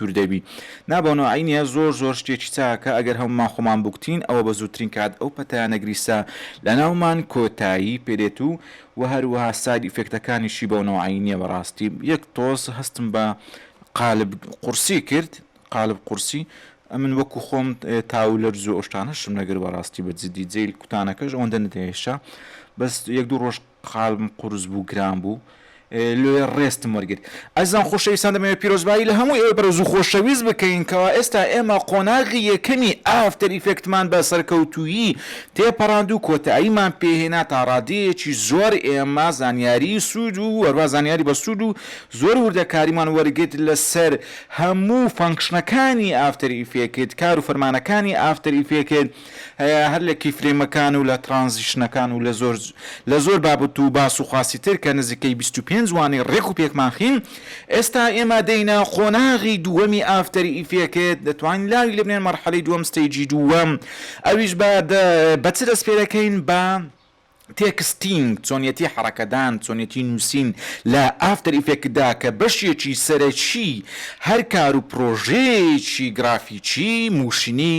دوور دەبی نا بۆ نۆعی نیە زۆر زۆر شتێکی چاکە ئەگەر هەموومان خۆمان بوکتین ئەوە بە زووترین کات ئەو پەتایانە گریسە لەناومان کۆتایی پێدێت و وە هەروەها ساید ئیفێکتەکانیشی بەو نەوعەی نیە بەڕاستی یەک تۆز هەستم بە قالب قورسی کرد قالب قورسی ئەمن وەکو خۆم تاو لەرزو ئەو شتانەشم نەگر بەڕاستی بە جدی جەیل کوتانەکەش ئەوەندە نەدەهێشا بەس یەک دوو ڕۆژ قالبم قورس بوو گران بوو لۆیە ڕێستم وەرگر ئازیزان خۆشەویستان دەمەوێت پیرۆزبایی لە هەموو ئێوەی بەڕێز و خۆشەویست بکەین کەوا ئێستا ئێمە قۆناغی یەکەمی ئافتەر ئیفێکتمان بە سەرکەوتوویی تێپەڕاند و کۆتاییمان پێ هێنا تا ڕادەیەکی زۆر ئێمە زانیاری سوود و هەروە زانیاری بەسوود و زۆر وردەکاریمان وەرگرت لەسەر هەموو فەنکشنەکانی ئافتەر ئیفێکت کار و فەرمانەکانی ئافتەر ئیفێکت هەیە هەر لە کیفرەیمەکان و لە ترانزیشنەکان و لە زۆر لە زۆر بابەت و باس و خواسی تر کە نزیکەی بیست و پێنج وانەی ڕێک و پێکمان خیم ئێستا ئێمە دێینە قۆناغی دووەمی ئافتەر ئیفێکت دەتوانین لاوی لێبنێن مەرحەلەی دووەم ستەیجی دووەم ئەویش بە بە چ دەست پێدەکەین بە تێکستینگ، چۆنیەتی حەڕەکەدان، چۆنیەتی نووسین لە ئافتەر ئیفێکتدا کە بەشێکی سەرەکی هەر کار و پڕۆژەیەکی گرافیکی مووشنی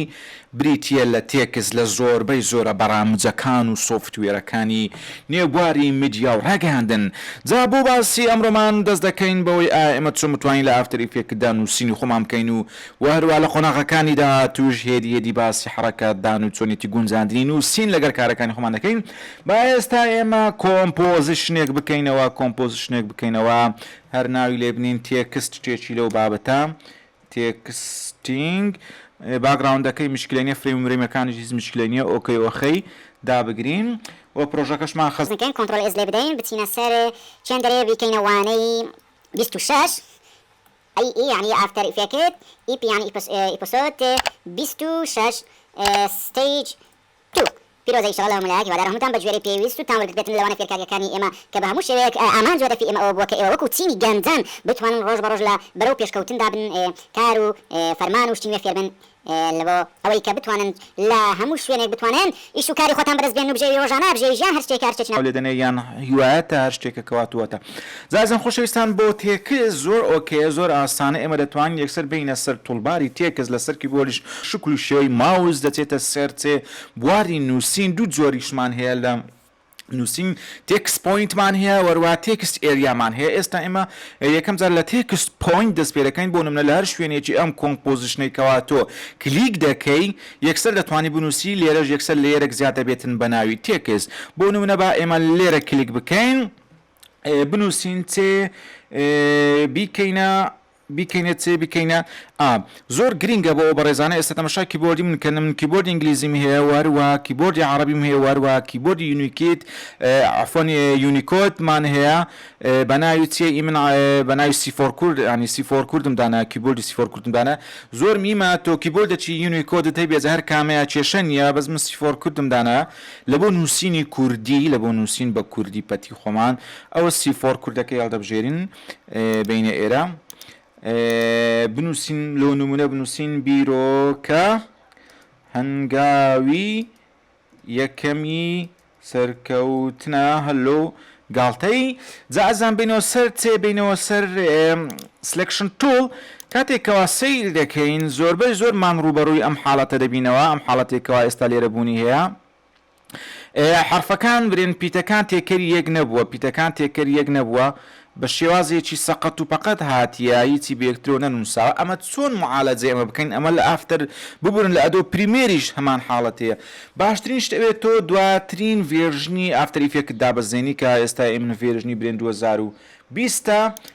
بریتییە لە تێکست لە زۆربەی زۆرە بەڕامجەکان و سۆفتوێرەکانی نێو بواری میدیا و ڕاگەیاندن جا بۆ باسی ئەمڕۆمان دەست دەکەین بەوەی ئایا ئێمە چۆن بتوانین لە ئافتەر ئیفێکتدا نووسینی خۆمان بکەین و و هەروا لە قۆناغەکانی داهاتووش هێدی هێدی باسی حەڕەکەت دان و چۆنێتی گونجاندنی نووسین لەگەر کارەکانی خۆمان دەکەین، با ئێستا ئێمە کۆمپۆزشنێک بکەینەوە کۆمپۆزشنێک بکەینەوە هەر ناوی لێ بنێین تێکست شتێکی لەو بابەتە تێکستینگ باگڕاوندەکەی مشکلە نیە فرەیم و مرەیمەکانیش هیچ مشکلە نیە ئۆکەی ئۆخەی دابگرین و پڕۆژەکەشمان خەست بکەین کۆنتڕۆڵ ئێس لێ بدەین بچینە سەر چەند دەرێ بیکەینە وانەی بیست و شەش ئەی ئی یەعنی ئافتەر ئیفێکت ئیپ یەعنی ئیپسۆد بیست و شەش ستەیج تو پیرۆزە ئیشەڵا لە مەلایەک هیوادارم هەمووتان بە گوێرەی پێویست و تان وەرگرت بێتن لەوانە فێرکاریەکانی ئێمە کە بە هەموو شێوەیەک ئامانج و هەدەفی ئێمە ئەوە بووە کە ئێوە وەکو چینی گەنجان بتوانن ڕۆژ بە ڕۆژ لە بەرەو پێشکەوتندا بن کار و فەرمان و شتی نوێ فێر بن لە بۆ ئەوەی کە بتوانن لە هەموو شوێنێک بتوانن ئیش و کاری خۆتان بەرز بێن و بژێوی ڕۆژانە بژێوی ژیان هەر شتێکە هەر شتێکی ناو لێدەنێ یان هیوایە تا هەر شتێکە کە واتووەتە زازان خۆشەویستان بۆ تێکس زۆر ئۆکەیە زۆر ئاسانە ئێمە دەتوانین یەکسەر بێینە سەر توڵباری تێکس لە سەر کیبۆلیش شکل و شێوەی ماوس دەچێتە سەر تێ بواری نووسین دوو جۆریشمان هەیە لە نوسین تێکست پۆینتمان هەیە وەروا تێکست ئێریامان هەیە ئێستا ئێمە یەکەم جار لە تێکست پۆینت دەست پێدەکەین بۆ نمونە لە هەر شوێنێکی ئەم کۆمپۆزیشنەی کەوا تۆ کلیک دەکەی یەکسەر دەتوانی بنوسی لێرەش یەکسەر لێرەک زیاد دەبێتن بە ناوی تێکست بۆ نمونە با ئێمە لێرە کلیک بکەین بنوسین تێ بیکەینە بیکەینە چێ بیکەینە ئا. زۆر گرینگە بۆ ئەو بەڕێزانە ئێستا تەمەشای کیبۆردی من کەن من کیبۆردی ئینگلیزیم هەیە وەهەروەها کیبۆردی عەڕەبیم هەیە وەهەروەها کیبۆردی یونیکیت عەفوەن یونیکۆد مان هەیە بەناوی چیە ئی من بەناوی سیفۆر کورد یانی سیفۆر کوردم دانا کیبۆردی سیفۆر کوردم دانا زۆر میمە تۆ کیبۆردەچی یونیکۆدت هەیبێ جا هەر کامەیە کێشە نیە بەس من سیفۆر کوردم دانا لەبۆ نووسینی کوردی لەبۆ نووسین بە کوردی پەتی خۆمان ئەوە سیفۆر کوردەکەی هەڵدەبژێرین بەینە ئێرە بنووسین لۆ نمونە بنووسین بیرۆکە هەنگاوی یەکەمی سەرکەوتنە هەلو گاڵتەی جا ئەزان بینەوە سەر تێ بینەوە سەر سلکشن تول کاتێکەوە سیل دەکەین زۆربەی زۆرمان ڕوبەڕووی ئەم حاڵەتە دەبینەوە ئەم حاڵەتێکەوە ئێستا لێرە بوونی هەیە حەرفەکان برێن پیتەکان تێکەری یەک نەبووە پیتەکان تێکەری یەک نەبووە بە شێوازێکی سەقەت و پەقەت هاتیە هیچی بەیەکترەوە نەنووساوە ئەمە چۆن معالەجەی ئەمە بکەین ئەمە لە ئافتەر ببورن لە ئەدۆ پریمێریش هەمان حاڵەت هەیە باشترین شت ئەوێت تۆ دواترین ڤێرژنی ئافتەر ئیفێکت دابەزێنی کە ئێستا ئێمن ڤێرژنی برێن 2020ە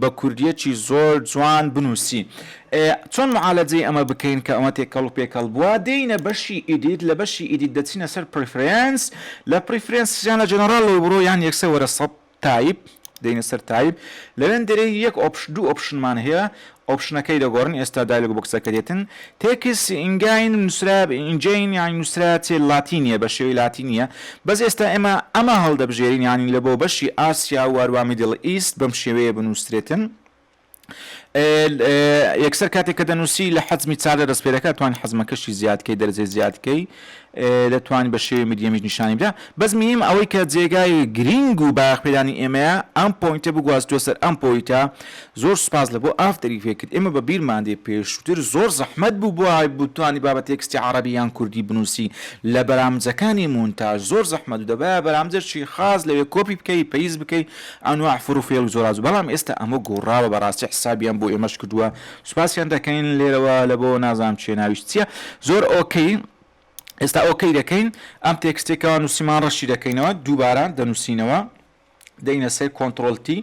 بە کوردیەکی زۆر جوان بنوسی. ئێ چۆن معالەجەی ئەمە بکەین کە ئەمە تێکەڵ و پێکەڵ بوە دێینە بەشی ئیدیت لە بەشی ئیدیت دەچینە سەر پریفرێنس لە پریفرێنس یان لە جەنەڕاڵ لەوە بڕۆ یان یەکسەر وەرە سەب تایپ دێینە سەر تایپ لەوێندەرێ یەک ئۆپش دوو ئۆپشنمان هەیە ئۆپشنەکەی دەگۆڕن ئێستا دایلۆگ بۆکسەکە دێتن تێکس ئینگاین نووسرا ئینجەین یانی نووسرا چێ لاتینیە بە شێوەی لاتینیە بەس ئێستا ئێمە ئەمە هەڵدەبژێرین یانی لە بۆ بەشی ئاسیا و هەروە میدل ئیست بەم شێوەیە بنووسرێتن یەکسەر کاتێک کە دەنووسی لە حەزمی چار دەست پێ دەکات توان حەزمەکەشی زیادکەی دەرجەی زیادکەی دەتوانی بە شێوەی مدیەمیش نیشانی بدە بەس میم ئەوەی کە جێگای گرینگ و بایەخ پێدانی ئێمەیە ئەم پۆینتە بگواستوە سەر ئەم پۆیتە زۆر سوپاس لە بۆ ئافتەری فێکت ئێمە بە بیرمان دێ پێشوتر زۆر زەحمەت بوو بۆ ئای بتوانی بابە تێکستی عەڕەبی یان کوردی بنووسی لە بەرامجەکانی مونتاژ زۆر زەحمەت و دەبایە بەرامجەشی خاص لەوێ کۆپی بکەی پەیز بکەی ئەنواع فڕ و فێڵ و زۆراز بەڵام ئێستا ئەمە گۆڕاوە بەڕاستی حسابیان بۆ ئێمەش کردووە سوپاسیان دەکەین لێرەوە لە بۆ نازانم چیە ناویش چیە زۆر ئۆکەی ئێستا ئۆکەی دەکەین ئەم تێکستەی کەوا نووسیمان ڕەشی دەکەینەوە دووبارە دەنووسینەوە دەینە سەر کۆنتترۆل تی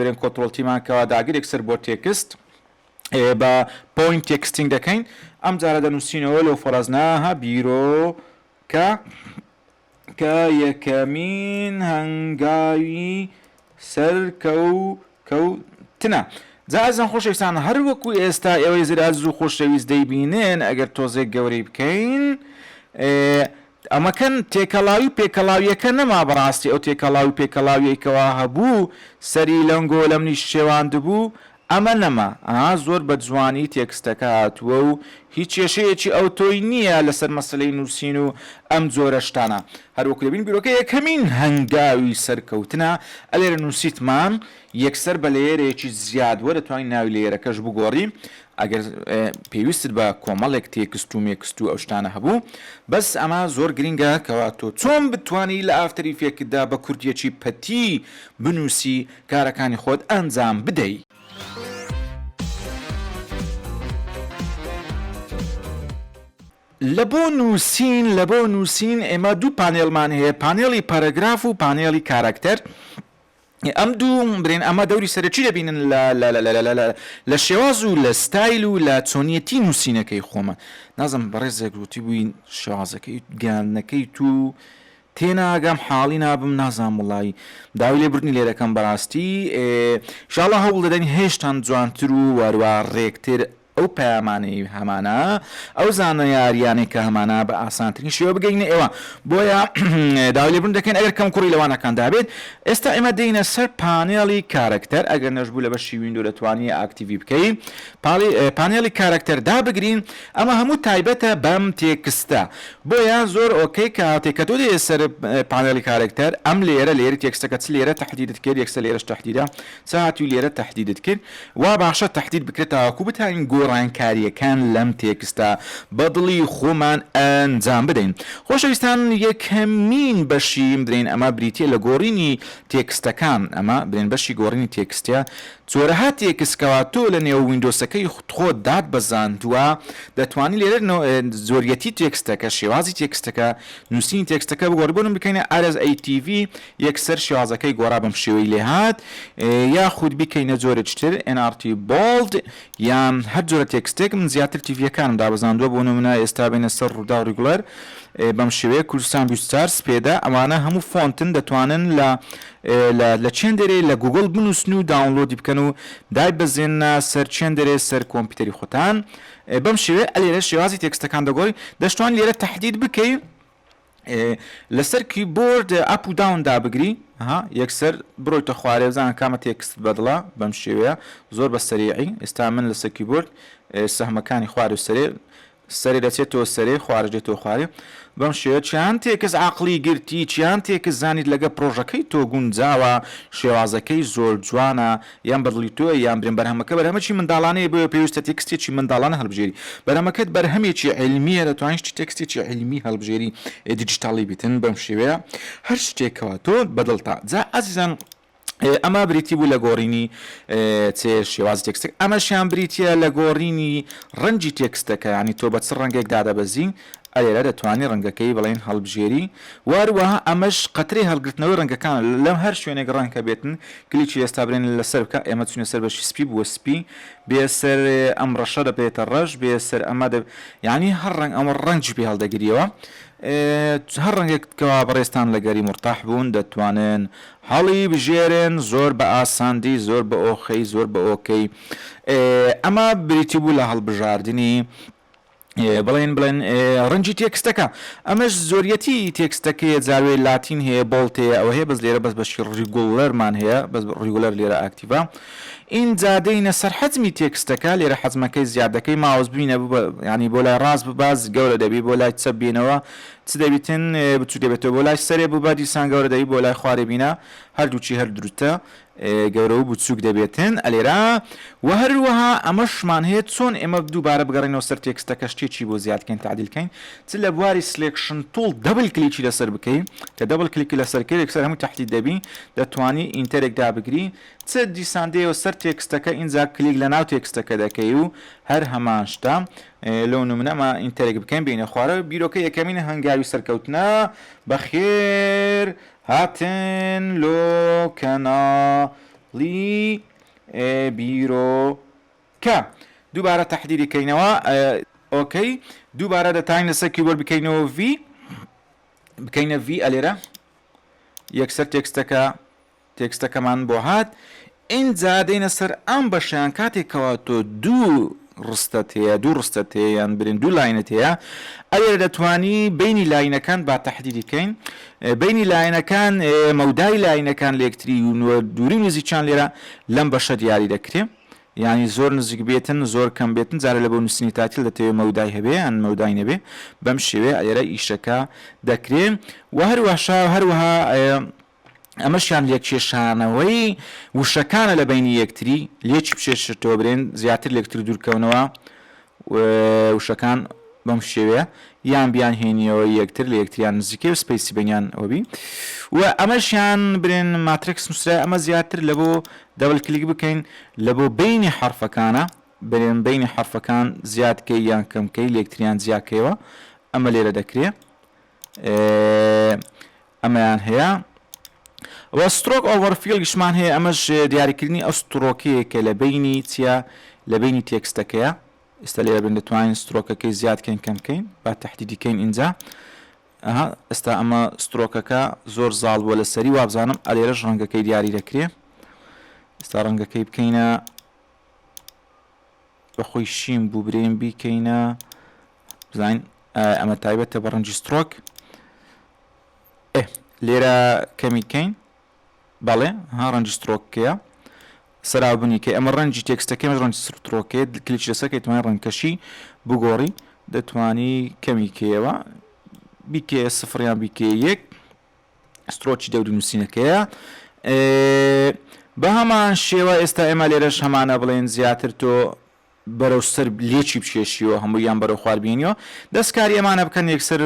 برێن کۆنتترۆل تیمان کەوا داگرێک سەر بۆ تێکست بە پوین تێکستینگ دەکەین ئەم جارە دەنووسینەوە لەو فەرەزناها بیرۆ کە کە یەکەمین هەنگاوی سەرکەو کەو تنە جا ئەزان خۆشەویستان هەر وەکو ئێستا ئێوەی زرا زوو خۆشەویست دەیبینن ئەگەر تۆزێک گەورەی بکەین ئەمەکەن تێکەڵاوی و پێکەڵاویەکە نەما بەڕاستی ئەو تێکەڵاوی پێکەڵاویەکەوا هەبوو سەری لەنگۆ لەمنیش شێواند بوو ئەمە نەما ئا زۆر بە جوانی تێکستەکە هاتووە و هیچ کێشەیەکی ئەوتۆی نییە لەسەر مەسەلەی نووسین و ئەم جۆرە شتانە هەر وەکو دەبین بیرۆکە یەکەمین هەنگاوی سەرکەوتنە ئەلێرە نووسیتمان یەکسەر بە لەیەرێکی زیاد وە دەتوانی ناوی لەیەرەکەش بگۆڕی ئەگەر پێویستت بە کۆمەڵێک تێکست و مێکست و ئەو شتانە هەبوو بەس ئەمە زۆر گرینگە کەوا تۆ چۆن بتوانی لە ئافتەر ئیفێکتدا بە کوردیەکی پەتی بنووسی کارەکانی خۆت ئەنجام بدەی. لە بۆ نووسین لە بۆ نووسین ئێمە دوو پانێڵمان هەیە پانێڵی پەرەگراف و پانێڵی کاراکتەر ئەم دوو برێن ئەمە دەوری سەرەکی دەبینن لە شێواز و لە ستایل و لە چۆنیەتی نووسینەکەی خۆمە نازم بەڕێزێک گوتی بووین شێوازەکەی گیانەکەی تو تێناگەم حاڵی نابم نازانم وەڵایی داوی لێ بردنی لێدەکەم بەڕاستی شاڵە هەوڵ دەدەین هێشتان جوانتر و واروا ڕێکتر ئەو پەیامانەی هەمانە ئەو زانە یاریانەی کە هەمانە بە ئاسانترین شێوە بگەینە ئێوە بۆیە داوی لێبوون دەکەین ئەگەر کەم کوڕی لەوانەکان دابێت ئێستا ئێمە دێنە سەر پانێڵی کارەکتەر ئەگەر نەشبوو لە بەشی وینندو دەتوانانی ئاکتیوی بکەی پاڵی پانێڵی کارەکتەر دابگرین ئەمە هەموو تایبەتە بەم تێکستە بۆیە زۆر ئۆکەی کاتێ کە تۆ دێیە سەر پانێڵی کارەکتەر ئەم لێرە لێری تێکستەکە چ لێرە تەحدیدت کرد یەکسەر لێرەش تەحدیدە چ هاتووی لێرە تەحدیدت کرد وا باشە تەحدید بکرێت تاوەکوو بتانین گۆڕانکارییەکان لەم تێکستە بە دڵی خۆمان ئەنجام بدەین خۆشەویستان یەکەمین بەشی بدرێین ئەمە بریتییە لە گۆڕینی تێکستەکان ئەمە برێن بەشی گۆڕینی تێکستە جۆرەها تێکست کەوا تۆ لە نێو ویندۆسەکەی خۆت دات بەزاندوە دەتوانی لێرە نۆ زۆریەتی تێکستەکە شێوازی تێکستەکە نوسینی تێکستەکە بگۆڕی بۆ نمونە بکەینە RSATV یەکسەر شێوازەکەی گۆڕا بەم شێوەی لێ هات یاخود بیکەینە جۆرێکی تر NRT Bold یان هەر جۆرە تێکستێک من زیاتر تیڤیەکانم دابەزاندوە بۆ نمونە ئێستا بینە سەر ڕووداو ڕیگولەر بەم شێوەیە کوردستان بیستار سپێدا ئەمانە هەموو فۆنتن دەتوانن لە لە لە چێندێرێ لە گوگڵ بنووسن و داونلۆدی بکەن و دایبەزێننە سەر چێندێرێ سەر کۆمپیوتەری خۆتان بەم شێوەیە ئەلێرە شێوازی تێکستەکان دەگۆڕی دەشتوان لێرە تهدید بکەی لەسەر کیبۆرد ئەپ و داون دابگری ها یەکسەر بڕۆیتە خوارێ بزان کامە تێکست بەدڵە بەم شێوەیە زۆر بە سەریعی ئێستا من لەسەر کیبۆرد سەهمەکانی خوار و سەرێ سەرێ دەچێتەوە سەرێ، خوارەش دێتەوە خوارێ. بەم شێوەیە چیان تێکست عەقڵی گرتی، چیان تێکست زانیت لەگە پرۆژەکەی تۆ گونجاوە، شێوازەکەی زۆر جوانە، یان بە دڵی تۆیە یان برێن بەرهەمەکە بەرهەمەکی منداڵانەیە بۆیە پێویستە تێکستێکی منداڵانە هەڵبژێری. بەرهەمەکەت بەرهەمێکی عیلمییە دەتوانیت شتی تێکستێکی عیلمی هەڵبژێری دیجیتاڵی بیتن بەم شێوەیە هەر شتێکەوە تۆ بە دڵتە. جا ئەزیزان ئەمە بریتی بوو لە گۆڕینی چێ شێوازی تێکستێک ئەمەشیان بریتە لە گۆڕینی ڕەنجی تێکستەکە ینی تۆ بە چ ڕەنگێک دادەبەزی ئەلێرە دەتوانانی ڕەنگەکەی بڵێن هەڵبژێری واروەها ئەمەش قەتری هەڵگرتنەوەی ڕەنگەکان لەم هەر شوێنێک ڕەنکە بێتن کلیکی ئێستا برێن لەسەر بکە ئێمە چونە سەر بەشی سپی بووە سپی بێسەر ئەم ڕەشە دەبێتە ڕەش بێسەر ئەمە دە ینی هەر ڕنگ ئەمە ڕەنجی پێ هەڵدەگریەوە هەر ڕەنگێک کەوا بەڕێستان لە گەری مرتاح بوون دەتوانن هەڵی بژێرێن زۆر بە ئاساندی زۆر بە ئۆخەی زۆر بە ئۆکەی ئەمە بریتی بوو لە هەڵبژاردنی بڵێن بڵێن ڕەنجی تێکستەکە ئەمەش زۆریەتی تێکستەکەی زاروێ لاتین هەیە بۆڵتەیە ئەوە هەیە بەس لێرە بەس بەشی ڕیگوڵەرمان هەیە بەس ڕیگولەر لێرە ئاکتیڤە ئین جادەینە سەر حەزمی تێکستەکە لێرە حەزمەکەی زیادەکەی ماوەز بینە ینی بۆ لای ڕاست بباز گەورە دەبی بۆ لای چە بینەوە چ دەبیتن بچوک دەبێتەوە بۆ لای سەرێ بوو بە دیسان گەورە دەبی بۆ لای خوارێ بینە هەردووچی هەر دروتە گەورە و بچوک دەبێتن ئەلێرا و هەروەها ئەمەشمان هەیە چۆن ئێمە دووبارە بگەڕێنەوە سەر تێکستەکە شتێکی بۆ زیادکەین تعدیلکەین چ لە بواری سلێکشن تول دەبل کلیکی لەسەر بکەین کە دەبل کلیکی لەسەر کرێک سەر هەموو تحدید دەبی دەتوانی ئینتەرێک دابگری چ دیسان دێەوە سەر تێکستەکە ئینجا کلیک لە ناو تێکستەکە دەکەی و هەر هەمان شتە لۆ نمونە ئەمە ئینتەرێک بکەین بێینە خوارەوە بیرۆکە یەکەمین هەنگاوی سەرکەوتنە بەخێر هاتن لۆ کەناڵی بیرۆکە دووبارە تەحدیری کەینەوە ئۆکەی دووبارە دەتاین لەسەر کیبۆرد بکەینەوە ڤی بکەینە ڤی ئەلێرە یەکسەر تێکستەکە تێکستەکەمان بۆ هات ئینجا دێینە سەر ئەم بەشەیان کاتێک کەوا تۆ دوو ڕستەت هەیە دوو ڕستەت هەیە یان برێن دوو لاینت هەیە ئەوێ دەتوانی بینی لاینەکان با تەحدیدی کەین بینی لاینەکان مەودای لاینەکان لەکتری و نوە دووری و نزیکیان لێرە لەم بەشە دیاری دەکرێ یعنی زۆر نزیک بێتن زۆر کەم بێتن جارە لە بۆ نووسنی تاتیل دەتەوێت مەودای هەبێ یان مەودای نەبێ بەم شێوێ ئێرە ئیشەکە دەکرێن و هەروەشا هەروەها ئەمەشیان لێکێشانەوەی وشەکانە لە بەینی یەکتری، لێکی بچێشێتەوە برێن زیاتر لێکتر دوورکەونەوە و وشەکان بەم شێوەیە یان بیان هێنیەوە یەکتر لە یەکتریان نزیکەی و سپیسی بەنیان وەبی و ئەمەشیان برێن ماترێکس نووسرای ئەمە زیاتر لە بۆ دەبل کلیک بکەین لە بۆ بینی حرفەکانە برێن بینی حرفەکان زیادکەی یان کەمکەی لەکتریان جیاکەیەوە ئەمە لێرە دەکرێ ئەمەیان هەیە و سترۆک ئۆڤەر فیڵیشمان هەیە ئەمەش دیاریکردنی ئەو سترۆکەیە کە لە بینی چیە لە بینی تێکستەکەیە ئێستا لێرە بین دەتوانین سترۆکەکەی زیادکەین کەمکەین با تهدیدیکەین ئینجا ئەها ئێستا ئەمە سترۆکەکە زۆر زاڵ بووە لەسەری وابزانم ئەلێرەش ڕەنگەکەی دیاری دەکرێ ئێستا ڕەنگەکەی بکەینە بەخۆی شین بوو برێن بیکەینە بزانین ئەمە تایبەتە بە ڕەنجی سترۆک لێرە کەمی کەین بەڵێ ها ڕەنجی سترۆکەیە سەرابنی کە ئەمە ڕەنجی تێکستەکەم ڕەنج سرترۆکێت کلیچ لەسەکەی توانای ڕەنکەشی بگۆڕی دەتانی کەمی کەیەوە بیکێ سفریان بیکێ یەک سترۆکی دەوری نووسینەکەیە. بە هەمان شێوە ئێستا ئێمە لێرەش هەمانە بڵێن زیاتر تۆ بەرەو سەر لێکی بچێشیەوە هەموو یان بەرەو خوار بینیەوە دەستکاری ئەمانە بکەن یەکسەر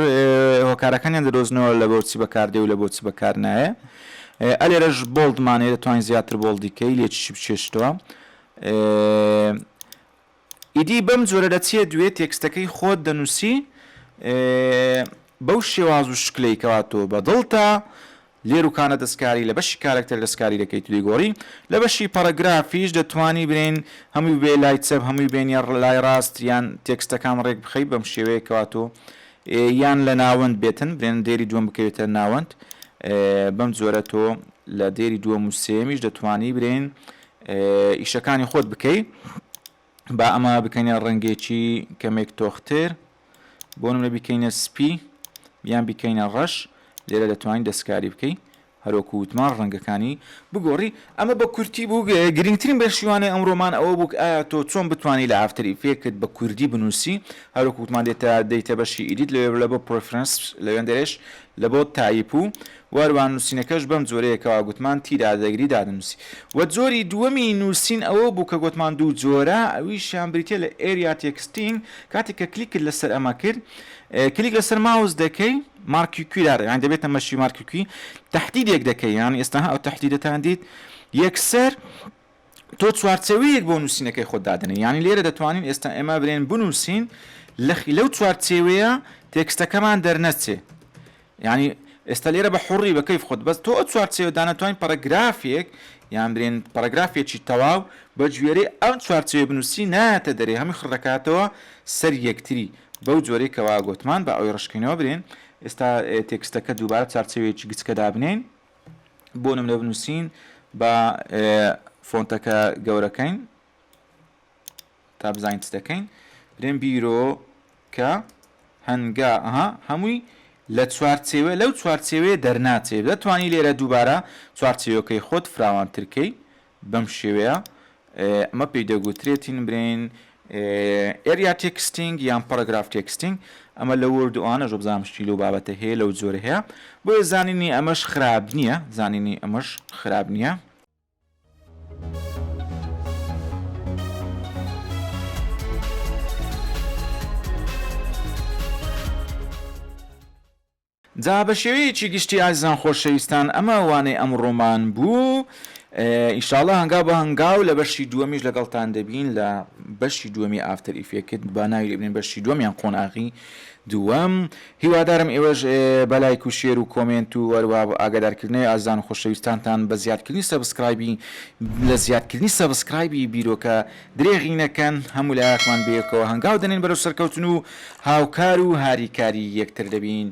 هۆکارەکانیان دەدۆزنەوە لە بۆچی بەکاردێ و لە بۆچی بەکار نایە ئەلێرەش بۆڵدمانەیە دەتوانین زیاتر بۆڵدیکەی لێکی بچێشتەوە ئیدی بەم جۆرە دەچیە دوێ تێکستەکەی خۆت دەنووسی بەو شێواز و شکلەی کەوا تۆ بە دڵتە لێروکانە دەستکاری لە بەشی کارکتەر دەستکاری دەکەیت دەیگۆڕی لە بەشی پەڕەگرافیش دەتوانی برین هەمووی بێ لای چەپ هەمووی بێنە لای ڕاست یان تێکستەکان ڕێک بخەی بەم شێوەیەکەوە تۆ یان لە ناوەند بێتن برێن دێری دووەم بکەوێتە ناوەند بەم جۆرە تۆ لە دێری دووەم و سێمیش دەتوانی برین ئیشەکانی خۆت بکەی با ئەمە بکەینە ڕەنگێکی کەمێک تۆختر بۆ نمرە بیکەینە سپی یان بیکەینە ڕەش لێرە دەتوانین دەستکاری بکەی هەرۆکو وتمان ڕەنگەکانی بگۆڕی ئەمە بە کورتی بوو گرنگترین بەشیوانەی ئەمڕۆمان ئەوە بووک ئایا تۆ چۆن بتانی لە ئافتری فێکت بە کوردی بنووسی هەرۆکوتمان دێتە دەیتە بەشی ئیدیت لەوێ لە بۆ پرفرەنس لەوێندەرێش لە بۆ تایپ و وەروە نووسینەکەش بەم جۆرەیە کەوا گوتمان تیرا دەگری دادەنووسی. وە جۆری دووەمی نووسین ئەوە بوو کە گۆتمان دوو جۆرە ئەویشیان بریتیە لە Area Texting کاتێک کە کلیکت لەسەر ئەمە کرد کلیک لەسەر ماوس دەکەی مارکیکوی دادەی یان دەبێتە مەشی مارکیکوی تەحدیدێک دەکەی یان ئێستا ئەو تەحدیدەتان دیت یەکسەر تۆ چوارچێوەیەک بۆ نووسینەکەی خۆت دادەنێ یانی لێرە دەتوانین ئێستا ئێمە برێن بنووسین لەو چوارچێوەیە تێکستەکەمان دەرنەچێ ینی ئێستا لێرە بە حڕی بە کەیف خۆت بەس تۆ ئە چوارچێوە دانەتوانین پەرەگرافێک یان برێن پەرەگرافێکی تەواو بە گوێرەی ئەم چوارچێ بنووسی نایەتە دەرێ هەمی خڕەکاتەوە سەر یەکتری بەو جۆرەی کەوا گوتمان بە ئەوی ڕشکینەوە برێن ئێستا تێکستەکە دووبارە چارچەوەیەکی گچکە دابنین بۆ نمرە بنووسین بە فۆنتەکە گەورەکەین تا بزانین چ دەکەین برێن بیرۆ کە هەنگا ئەها هەمووی لە چوارچێوە لەو چوارچێوەیە دەرناچێت دەتوانی لێرە دووبارە چوارچێوەکەی خۆت فراوانترکەی بەم شێوەیە ئەمە پێی دەگوترێت تین برین ئێریا تێکستینگ یان پەرگراف تێکستینگ ئەمە لە وەرد و ئانە ژۆبزانام شتی لەو بابەتە هەیە لەو جۆرە هەیە بۆیە زانینی ئەمەش خراپ نییە زانینی ئەمەش خراپ نییە جا بە شێوەیەکی گشتی ئازیزان خۆشەویستان ئەمە وانەی ئەمڕۆمان بوو ئیشاڵە هەنگاو بە هەنگاو لە بەشی دووەمیش لەگەڵتان دەبین لە بەشی دووەمی ئافتەر ئیفێکت با ناوی لێ بنین بەشی دووەم یان قۆناغی دووەم هیوادارم ئێوەش بە لایک و شێر و کۆمێنت و وەروە ئاگادارکردنەوەی ئازان و خۆشەویستانتان بە زیادکردنی سەبسکرایبی لە زیادکردنی سەبسکرایبی بیرۆکە درێغی نەکەن، هەموو لایەکمان بەیەکەوە هەنگاو دەنێن بەرەو سەرکەوتن و هاوکار و هاریکاری یەکتر دەبین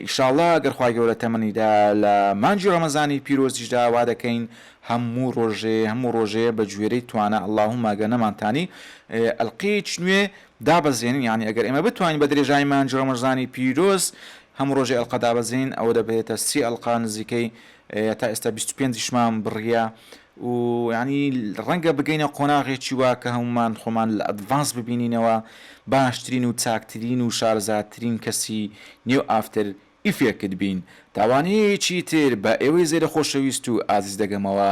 ئیشاڵڵا گەر خوای گەورە تەمەنی دا لە مانگی ڕەمەزانی پیرۆزیشدا وا دەکەین هەموو ڕۆژێ هەموو ڕۆژێ بە گوێرەی توانا اللهم ئەگەر نەمانتانی ئەلقەیەکی نوێ دابەزێنین یانی ئەگەر ئێمە بتوانین بە درێژایی مانگی ڕەمەزانی پیرۆز هەموو ڕۆژێ ئەلقە دابەزێنین ئەوە دەبێتە سی ئەلقە نزیکەی هەتا ئێستا بیست و پێنج شمان بڕیە و یانی ڕەنگە بگەینە قۆناغێکی وا کە هەموومان خۆمان لە ئەدڤانس ببینینەوە باشترین و چاکترین و شارەزاترین کەسی نێو ئافتەر ئیفێکت بین. تا وانەیەکی تر بە ئێوەی زێرە خۆشەویست و ئازیز دەگەمەوە